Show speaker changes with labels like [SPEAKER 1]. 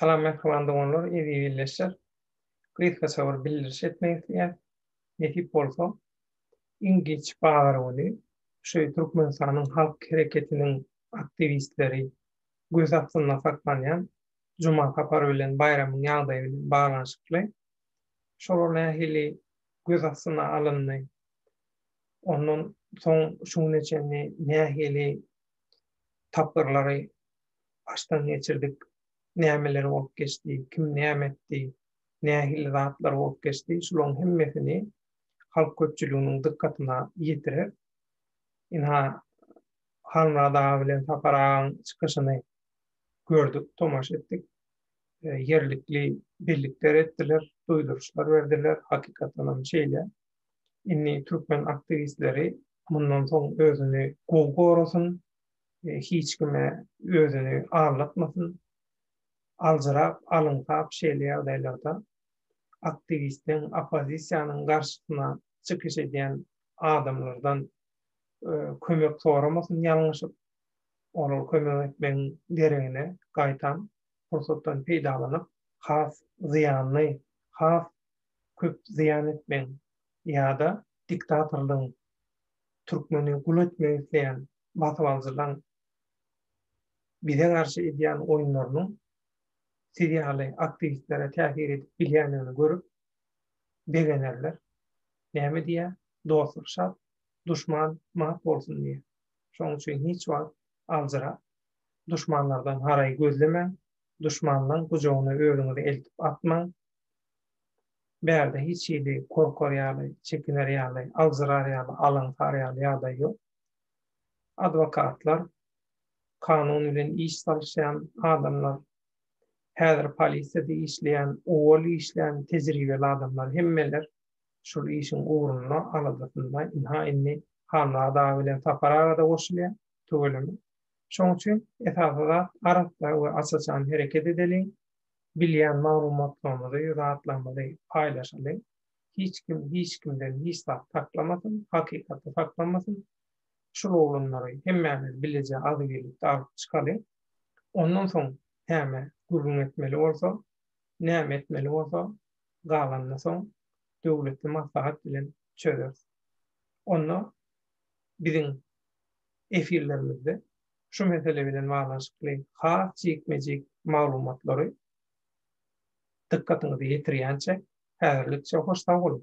[SPEAKER 1] Salam mähriban doganlar, eziz ildeşler! Gysgaça bir bildiriş etmek isleýän. Nesip bolsa, iň giç bazar güni şu Türkmenistanyň Halk Hereketiniň aktiwistleri göz astynda saklanýan Juma sapary bilen baýramyň ýagdaýy bilen baglanyşykly şolar nähili göz astyna alyndy, Ondan soň şu güne çenli nähili tapgyrlary başdan geçirdik, nämeler bolup geçdi, kim näme etdi, nähili zatlar bolup geçdi, şularyň hemmesini halk köpçüliginiň dykgatyna ýetirer. Ynha, Halmyrat aga bilen Sapar agaň çykyşyny gördük, tomaşa etdik. Ýerlikli bellikler etdiler, duýduryşlar berdiler, hakykatdanam şeýle. Indi türkmen aktiwistleri mundan soň özüni gowy gorasyn, hiç kime özüni aldatmasyn. Aljyrap, alyňsap şeýle ýagdaýlarda aktiwistiň, oppozisiýanyň garşysyna çykyş edýän adamlardan kömek soramasyn ýalňyşyp. Olar kömek etmegiň deregine gaýtam pursatdan peýdalanyp has zyýanly, has köp zyýan etmeýin ýa-da diktatorlygyň, türkmeni gul etmek isleýän basybalyjylaň bize garşy edýän oýunlarynyň siz ýaly aktiwistlere täsir edip bilýändigini görüp begenerler. Näme diýýär, dostluk şat, duşman mat bolsun diýýär. Şonuň üçin hiç wagt aljyrap, duşmanlardan haraý gözlemäň, duşmanlaň gujagyna özüňizi eltip atmaň, Bärde hiç hili korkar ýaly, çekiner ýaly, aljyrar ýaly, alaňsar ýaly ýagdaý ýok. Adwokatlar, kanun bilen iş salyşýan adamlar, häzir polisiýada işleýän, owal işlän tejribeli adamlar hemmeler şul işiň ugrunda, aladasynda. Ynha, indi Halmyrat aga bilen Sapar aga-da goşulýar, tüweleme. Şoň üçin esasy zat arassa we aç-açan hereket edeliň. Bilýän maglumatlarymyzy, zatlarymyzy paýlaşalyň. Hiç kim hiç kimden hiç zat saklamasyn, hakykaty saklamasyn. Şul oglanlary hemmämiz bileje az gelip-de alyp çykalyň. Ondan soň näme gürrüň etmeli bolsa, näme etmeli bolsa, galanyny soň döwletli maslahat bilen çözeris. Onda biziň efirlerimizde şu mesele bilen baglanyşykly has jikme-jik maglumatlary dykgatyňyza ýetirýänçä, häzirlikçe hoş sag boluň!